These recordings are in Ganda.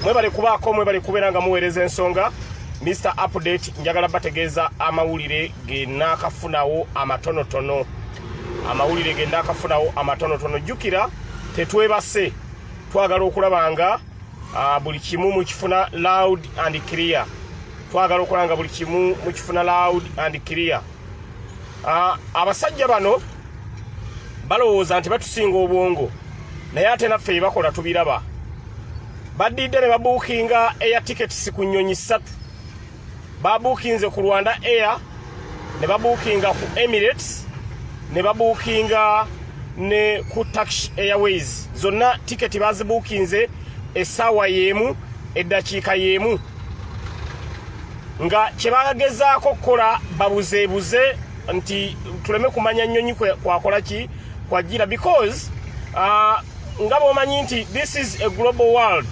mwebale kubaako mwebale kubeera nga muweereza ensonga mr update njagala bategeeza amawulire genaakafunawo amatonotono amawulire genaakafunawo amatonotono jjukira tetwebase twagala okulaba nga ah, buli kimu mukifuna loud and clear twagala okola nga buli kimu mukifuna loud and clear uh, abasajja bano balowooza nti batusinga obwongo naye ate naffe bebakola tubiraba badidde ne babuukinga eya tickets ku nnyonyi ssatu babuukinze ku rwanda air ne babuukinga ku emirates ne babuukinga ne ku tax airways zonna tiketi bazibuukinze essaawa y'emu eddakiika y'emu nga kye bagezaako okukola babuzeebuze nti tuleme kumanya nnyonyi kwakola ki kwajjira because uh, nga bwomanyi nti this is a global world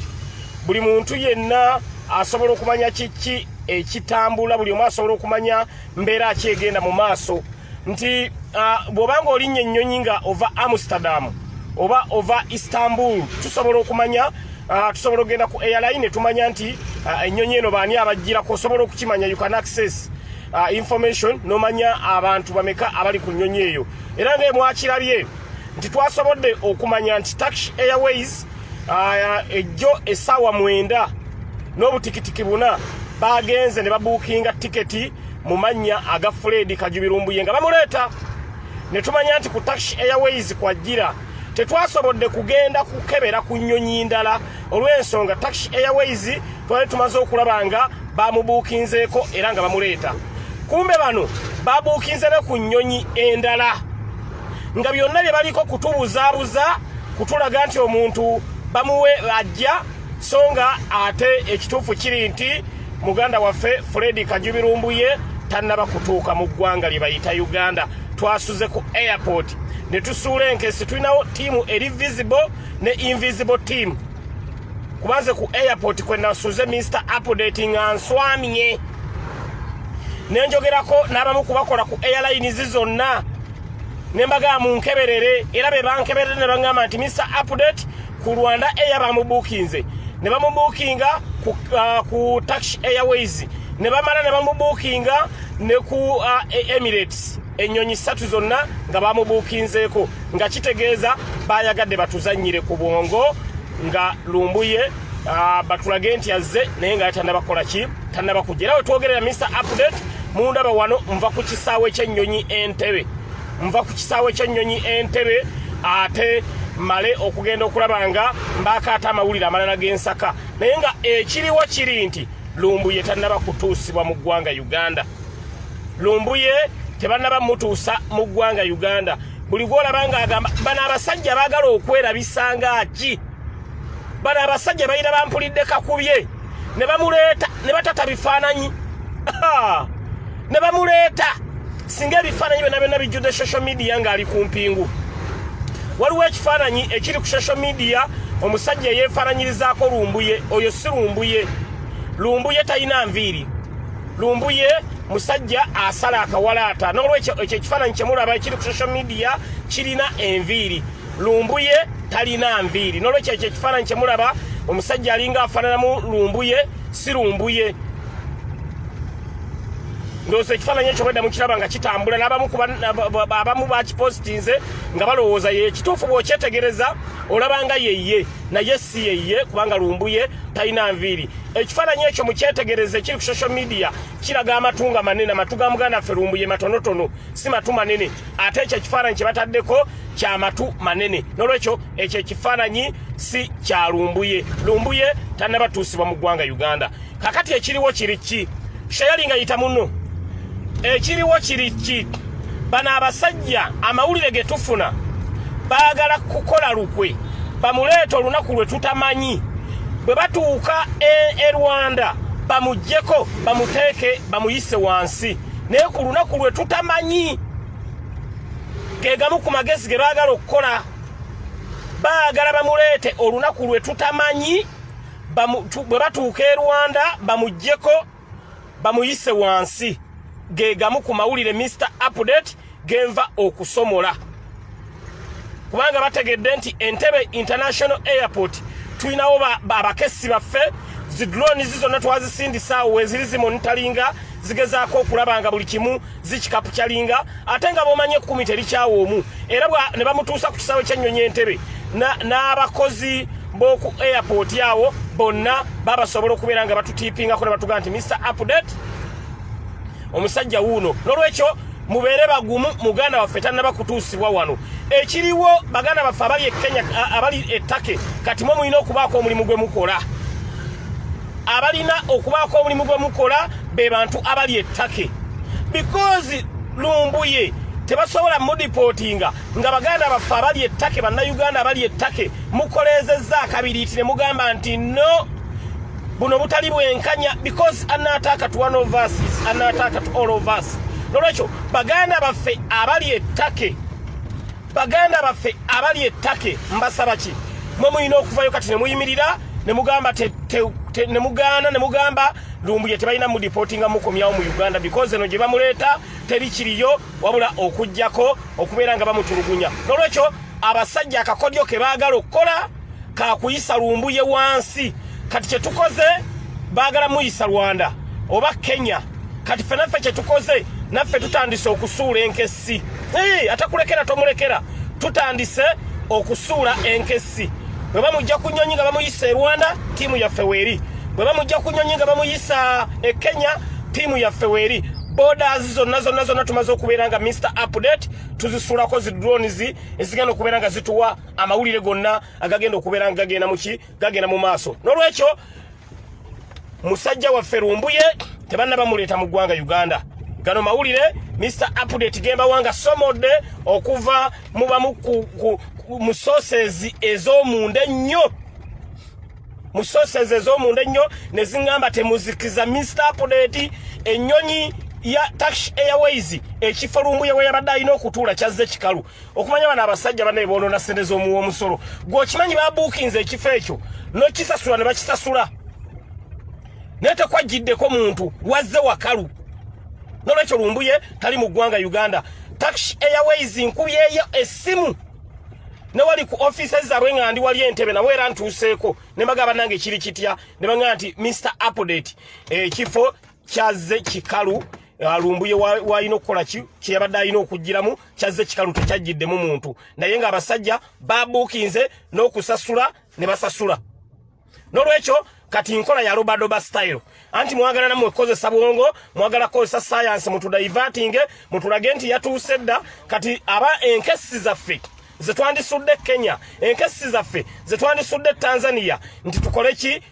buli muntu yenna asobola okumanya kiki ekitambula buli omu asobola okumanya mbeera ki egenda mu maaso nti uh, bwoba nga olinnya ennyonyi nga ova amsterdam oba ova istanbul tusobola okumanya uh, tusobola okugenda ku airline tumanya nti uh, ennyonyi eno baani abajjirako osobola okukimanya you can access uh, information nomanya abantu bameka abali ku nnyonyi eyo era nga emwakirabye nti twasobodde okumanya nti tax airways uh, ejjo essaawa mwenda n'obutikitiki buna bagenze ne babuukinga tiketi mu mannya aga Fred Kajubirumbuye nga bamuleeta ne tumanya nti ku Turkish Airways kwajjira tetwasobodde kugenda kukebera ku nnyonyi ndala olw'ensonga Turkish Airways twali tumaze okulaba nga bamubuukinzeeko era nga bamuleeta kumbe bano babuukinze ne ku nnyonyi endala nga byonna bye baliko kutubuzaabuza kutulaga nti omuntu bamuwe ajja so nga ate ekituufu kiri nti muganda waffe fredi kajubi lumbuye tannaba kutuuka mu ggwanga lye bayita uganda twasuze ku airport ne tusuula enkesi tulinawo tiimu eri visible ne invisible team kubanze ku airport kwe nasuze mr update nga nswamye ne njogerako n'abamu kubakola ku airlines zonna ne mbagaa munkeberere era be bankeberere ne baŋŋamba nti mr update ku Rwanda Air bamubuukinze ne bamubuukinga ku, uh, ku Turkish Airways ne bamala ne bamubuukinga ne ku uh, Emirates ennyonyi ssatu zonna nga bamubuukinzeeko nga kitegeeza bayagadde batuzannyire ku bwongo nga lumbuye uh, batulage nti azze naye nga yatandaba kukola ki tandaba kujja era wetwogerera mr update mundaba wano nva ku kisaawe ky'ennyonyi entebe nva ku kisaawe ky'ennyonyi entebe ate male okugenda okulaba nga mbaakaata amawulire amalala g'ensaka naye nga ekiriwo kiri nti lumbuye tannaba kutuusibwa mu ggwanga uganda lumbuye tebannaba mutuusa mu ggwanga uganda buli gwolaba ng'agamba bano abasajja baagala okwerabisanga ki bano abasajja balina bampulidde kakubye ne bamuleeta ne batata bifaananyi ne bamuleeta singa ebifaananyi byonna byonna bijjudde social media ng'ali ku mpingu waliwo ekifaananyi ekiri ku social media omusajja eyeefaananyirizaako lumbuye oyo si lumbuye lumbuye talina nviiri lumbuye musajja asala akawalaata n'olwekyo ekyo ekifaananyi kyemulaba ekiri ku social media kirina enviiri lumbuye talina nviiri nolwekyo ekyo ekifaananyi kyemulaba omusajja alinga afaananamu lumbuye si lumbuye ndowooza ekifaananyi ekyo bwedda mukiraba nga kitambula nabamu bakipositinze nga balowooza ye ekituufu bwokyetegereza olabanga yeye naye si yeye kubanga lumbuye talina nviiri ekifaananyi ekyo mukyetegereze kiri ku social media kiraga amatu nga manene amatu ga muganda ffe lumbuye matonotono si matu manene ate ekyo ekifaananyi kyebataddeko kya matu manene nolwekyo ekyo ekifaananyi si kya lumbuye lumbuye tannabatuusibwa mu ggwanga uganda kakati ekiriwo kiri ki sheyali nga yita muno ekiriwo kiri ki bano abasajja amawulire ge tufuna baagala kukola lukwe bamuleeta olunaku lwe tutamanyi bwe batuuka e, e rwanda bamugyeko bamuteeke bamuyise wansi naye ku lunaku lwe tutamanyi ge gamu ku magezi ge baagala okukola baagala bamuleete olunaku lwe tutamanyi bwe batuuka e rwanda bamugyeko bamuyise wansi ge gamu ku mawulire mr update genva okusomola kubanga bategedde nti entebe international airport tulinawo abakessi baffe zidronizi zonna twazisindisaawo weziri zimonitalinga zigezaako okulaba nga buli kimu zikikapu kyalinga ate nga bomanyi ekkumi terikyawo omu era ne bamutuusa ku kisaawe kyennyonyi entebe n'abakozi b'oku airport awo bonna babasobola okubeera nga batutiipingako ne batugaa nti mr update omusajja wuuno nolwekyo mubeere bagumu muganda waffe tanaba kutuusibwa wano ekiriwo baganda baffe abali ekenya abali etake kati mwe mulina okubaako omulimu gwe mukola abalina okubaako omulimu gwe mukola be bantu abali etake because lumbuye tebasobola mudipotinga nga baganda baffe abali ettake bannayuganda abali ettake mukoleezezza akabiriiti ne mugamba nti no buno butali bwenkanya because anaataaka to one of us is anaataaka to all of us nolwekyo baganda baffe abali ettake baganda baffe abali ettake mbasaba ki mwe mulina okuvayo kati nemuyimirira nemugamba nemugaana nemugamba lumbuye tebalina mudipotinga mukomyawo mu uganda because eno gye bamuleeta teri kiriyo wabula okugyako okubeera nga bamutulugunya nolwekyo abasajja akakodyo ke baagala okukola kakuyisa lumbuye wansi kati kyetukoze bagala muyisa rwanda oba kenya kati ffe naffe kyetukoze naffe tutandise okusuula enkessi atakulekera tomulekera tutandise okusuula enkessi bwe bamujja ku nyonyi nga bamuyisa e rwanda tiimu yaffe weeri bwe bamujja ku nyonyi nga bamuyisa e kenya tiimu yaffe weeri borders zonna zonna zonna tumaze okubeera nga mr update tuzisulako zi drones ezigenda okubeera nga zituwa amawulire gonna agagenda okubeera nga gagenda muki gagenda mu maaso n'olwekyo musajja waffe lumbuye tebanna bamuleeta mu ggwanga uganda gano mawulire mr update gembawa nga somodde okuva mu bamu mu sosezi ez'omunda ennyo mu sosezi ez'omunda ennyo ne ziŋŋamba temuzikiza mr update ennyonyi ya tax airways ekifo lumbuye we yabadde alina okutuula kyazze kikalu okumanya bano abasajja banaye boonona sente z'omuwa omusolo gwe okimanyi babuukinze ekifo ekyo nokisasula ne bakisasula naye tekwajjiddeko muntu wazze wakalu nolwekyo lumbuye tali mu ggwanga uganda tax airways nkubyeyo essimu newali ku office zaabwe nga ndi wali entebe nabo era ntuuseeko ne bagamba nange kiri kitya ne bagamba nti mr update ekifo eh, kyazze kikalu alumbuye walina okukola ki kyeyabadde alina okugiramu kyazze kikalu tekyajjiddemu muntu naye nga abasajja babuukinze n'okusasula ne basasula nolwekyo kati nkola ya robadoba style anti mwagala namwe kukozesa bwongo mwagala kukozesa sayansi mutudaivatinge mutulage nti yatuuse dda kati aba enkesi zaffe zetwandisudde kenya enkesi zaffe zetwandisudde tanzania nti tukole ki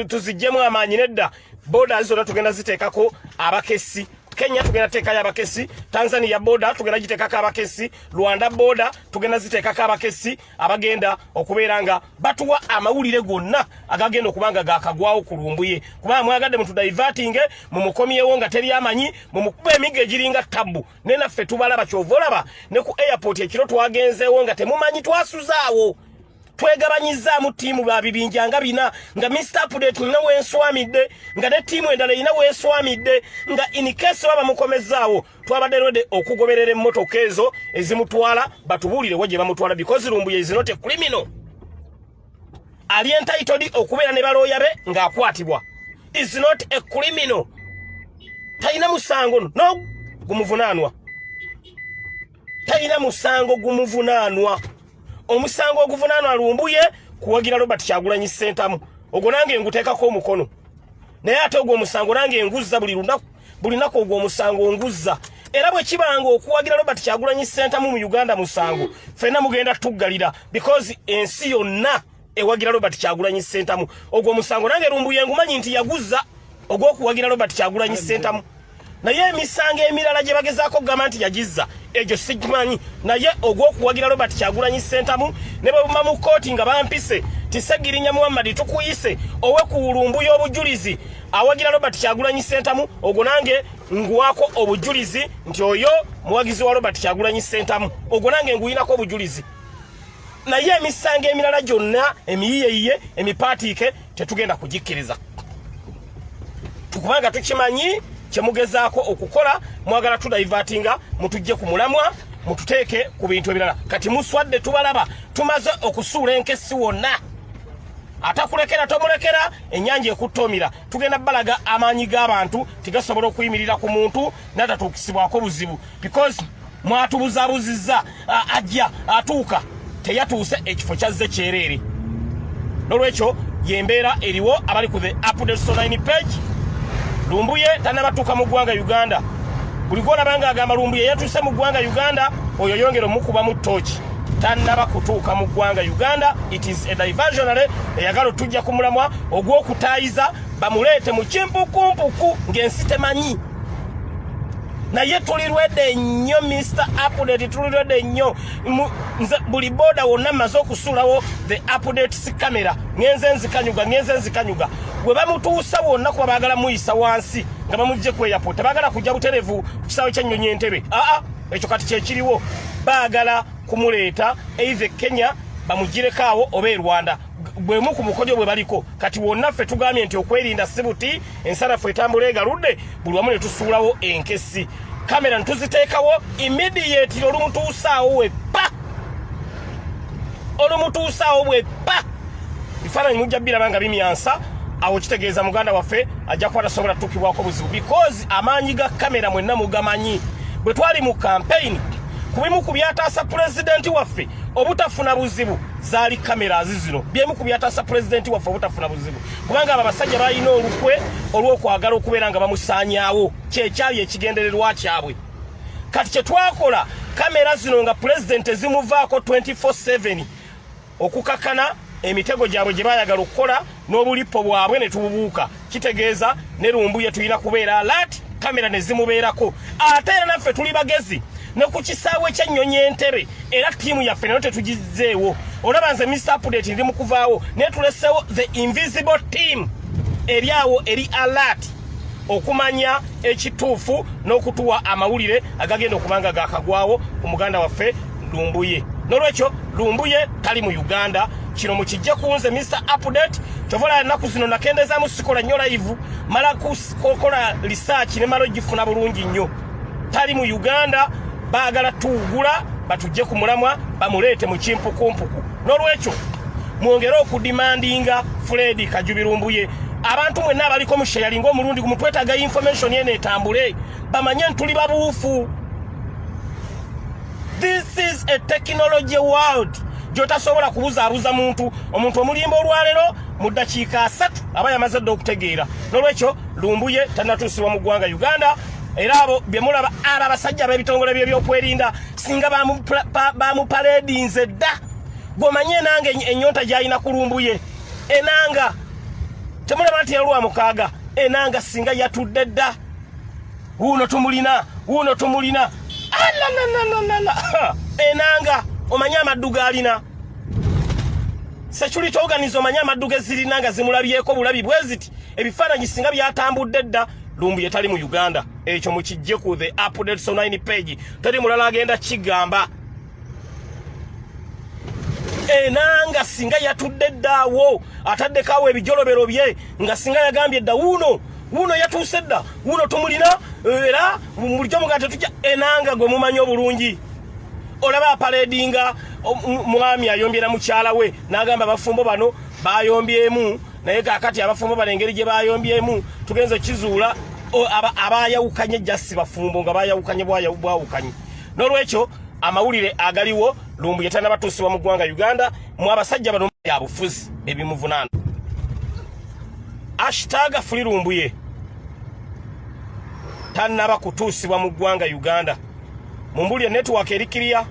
tuzijjemu amaanyi nedda boda zona tugenda ziteekako abakessi kenya tugenda teekayo abakessi tanzania boda tugenda giteekako abakessi rwanda boda tugenda ziteekako abakessi abagenda okubeera nga batuwa amawulire gonna agagenda okuba nga gakagwawo ku lumbuye kubanga mwagadde mutudaivatinge mumukomyewo nga teri amanyi mumukuba emigga egiringa tabbu ne naffe tubalaba kyova olaba ne ku airport ekiro twagenzeewo nga temumanyi twasuzaawo twegabanyizzaamu ttiimu ba bibinja nga bina nga mr update olina weeswamidde nga ne ttiimu endala erina weeswamidde nga inikesi oba bamukomezzaawo twabadde rode okugoberera emmotoka ezo ezimutwala batubuulirewo gye bamutwala because lumbuye is not a criminal ali entitodi okubeera ne balooya be ng'akwatibwa is not a criminal talina musango no gumuvunaanwa talina musango gumuvunaanwa omusango oguvunaanwa lumbuye kuwagira robert kyagulanyi sentamu ogwo nange nguteekako omukono naye ate ogwo omusango nange nguzza buli lunaku buli naku ogwo omusango nguzza era bwe kibanga okuwagira robert kyagulanyi sentamu mu uganda musango fenna mugenda tuggalira because ensi yonna ewagira Robert Kyagulanyi Sentamu ogwo musango nange lumbuye ngumanyi nti yaguza ogwokuwagira Robert Kyagulanyi Sentamu naye emisango emirala gye bagezaako okugamba nti yagizza egyo sigimanyi naye ogw'okuwagira robert kyagulanyi sentamu ne bwebuma mu kkooti nga bampise tisegirinya muhammadi tukuyise owe ku wulumbu y'obujulizi awagira robert kyagulanyi sentamu ogwo nange nguwako obujulizi nti oyo muwagizi wa robert kyagulanyi sentamu ogwo nange nguyinako obujulizi naye emisango emirala gyonna emiyiyeyiye emipaatiike tetugenda kugikkiriza tukubanga tukimanyi kyemugezaako okukola mwagala tudaivatinga mutujje ku mulamwa mututeeke ku bintu ebirala kati muswadde tubalaba tumaze okusuula enkesi wonna atakulekera tomulekera enyanja ekuttomira tugenda balaga amaanyi g'abantu tigasobola okuyimirira ku muntu natatuukisibwako buzibu because mwatubuzabuzizza ajja atuuka teyatuuse ekifo kyazze kyereere nolwekyo yembeera eriwo abali ku the updates online page lumbuye tanabatuuka mu ggwanga uganda buli gwolabanga agamba lumbuye yatuuse mu ggwanga uganda oyo yongera omukubamu tooki tanaba kutuuka mu ggwanga uganda it is a diversionary eyagala otujja ku mulamwa ogw'okutayiza bamuleete mu kimpukumpuku ng'ensi temanyi naye tulirwedde nnyo Mr update tulirwedde nnyo nze buli boda wonna maze okusulawo the updates camera ngenze nzikanyuga ngenze nzikanyuga gwe bamutuusa wonna kuba baagala muyisa wansi nga bamugje ku airport tebaagala kujja buterevu ku kisaawe kyennyonyi entebe aa ekyo kati kyekiriwo baagala kumuleeta eithe kenya bamugireko awo oba e rwanda gwemu ku mukojo bwe baliko kati wonna ffe tugambye nti okwerinda si buti ensanafu etambula egaludde buli wamu ne tusuulawo enkesi kamera ne tuziteekawo imidiyetiro olumutuusaawo webba olumutuusaawo bwebba bifaananyi mujja biraba nga bimyansa awo kitegeeza muganda waffe ajja kuba tasobola tutukibwako buzibu because amaanyi ga kamera mwenna mugamanyi bwe twali mu kampeyini ku bimu ku byataasa pulezidenti waffe obutafuna buzibu zaali kamera azizino byemu ku byataasa pulezidenti waffe obutafuna buzibu kubanga abo abasajja balina olukwe olw'okwagala okubeera nga bamusaanyaawo kyekyali ekigendererwa kyabwe kati kye twakola kamera zino nga pulezidenti ezimuvaako 24/7 okukakana emitego gyabwe gye bayagala okukola n'obulippo bwabwe ne tububuuka kitegeeza ne lumbuye tulina kubeera alert kamera ne zimubeerako ate era naffe tuli bagezi ne ku kisaawe ky'ennyonyi entebe era ttiimu yaffe nayo tetugizzeewo olaba nze mr update ndi mu kuvaawo naye tuleseewo the invisible team eri awo eri alert okumanya ekituufu n'okutuwa amawulire agagenda okuba nga gakagwawo ku muganda waffe lumbuye nolwekyo lumbuye tali mu uganda kino mukijje kunze mr update kyovola ennaku zino nakendezamu sikola nnyo layivu mala kukola lisaaki ne mala ogifuna bulungi nnyo tali mu uganda baagala tuwugula batujje ku mulamwa bamuleete mu kimpukumpuku n'olwekyo mwongere okudimandinga fuledi kajubirumbuye abantu mwenna abaliko musheyali ngaomulundi gumutwetaga information yena etambule bamanye ntuli babuufu this is a technology world gyotasobola kubuzaabuza muntu omuntu omulimba olwalero mu ddakiika asatu aba yamaze dda okutegeera n'olwekyo lumbuye tanatuusibwa mu ggwanga uganda era abo byemulaba abo abasajja b'ebitongole byebyokwerinda singa bamupaledinze dda gwomanye enanga enyonta gyalina kulumbuye enanga temulaba nti yalwa mukaaga enanga singa yatudde dda wuuno tumulina wuuno tumulina alananananana enanga omanye amaddu gaalina sekyulitoganiza omanye amaddu gezirina nga zimulabyeko bulabi bweziti ebifaananyi singa byatambudde dda lumbuye tali mu uganda ekyo mukijje ku the updates online page tali mulala agenda kigamba enanga singa yatudde ddaawo ataddeko awo ebijolobero bye nga singa yagambye dda wuuno wuuno yatuuse dda wuuno tumulina era mulijo mugaa tetujja enanga gwe mumanyi obulungi olaba aparedinga mwami ayombye na mukyala we n'agamba abafumbo bano bayombyemu naye kakati abafumbo bali engeri gye bayombyemu tugenze kizuula abayawukanye jasi bafumbo nga bayawukanye bwawukanye n'olwekyo amawulire agaliwo lumbu yetana batuusibwa mu ggwanga uganda mu abasajja bano byabufuzi ebimuvunaana ashitaga fuli lumbuye tanaba kutuusibwa mu ggwanga uganda mumbulire network erikiriya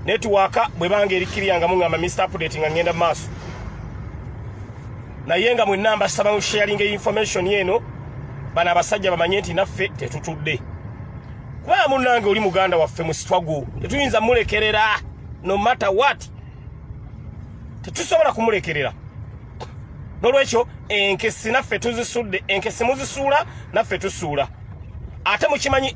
netiwaaka bwe banga eri kiriya nga muŋŋamba mr update nga ŋŋenda mu maaso naye nga mwenna mbasaba mu sharing information eno bano abasajja bamanye nti naffe tetutudde kubanga munnange oli muganda waffe mu sitwago tetuyinza mulekerera no matter what tetusobola kumulekerera nolwekyo enkesi naffe tuzisudde enkesi muzisuula naffe tusuula ate mukimanyi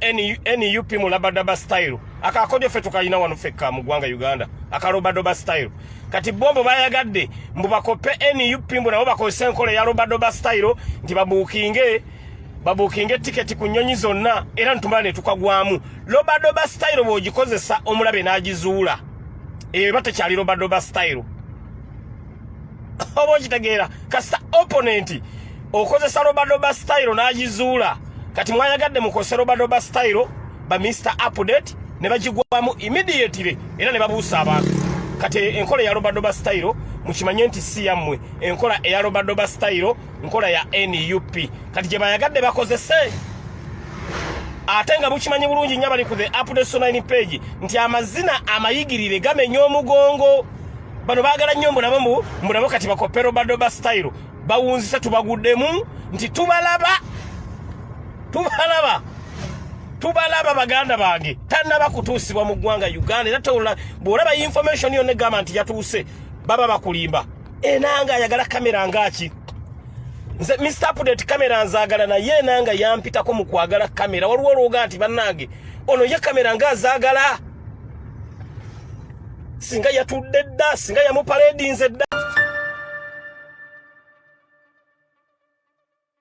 nup mu labadaba style akakodyo fe tukalina wano fekka mu ggwanga uganda akalobadoba style kati bombo bayagadde mbu bakope nup mbu nabo bakozesa enkola eya lobadoba style nti babuukinge babuukinge tiketi ku nnyonyi zonna era nitumala ne tukagwamu lobadoba style bw'ogikozesa omulabe n'agizuula eyo eba tekyali lobadoba style oba okitegeera kasita opponent okozesa robadoba style n'agizuula kati mwayagadde mukose robadoba style ba mr update ne bagigwamu immediately era ne babuusa abantu kati enkola eya robadoba style mukimanye nti si yammwe enkola eya robadoba style nkola ya nup kati gye bayagadde bakozese ate nga mukimanyi bulungi nnyo abali ku the update so 9 page nti amazina amayigirire gamenya omugongo bano bagala nnyo mulabe mu mulabe kati bakopero badoba style bawunzise tubaguddemu nti tubalaba tubalaba tubalaba baganda bange tanaba kutuusibwa mu ggwanga uganda era tola bwolaba information yonna egamba nti yatuuse baba bakulimba enanga ayagala kamera ngaaki nze mr update kamera nzagala naye enanga yampitako mu kwagala kamera waliwo olwoga nti bannange ono ye kamera nga azagala singa yatudde dda singa yamupaledinze dda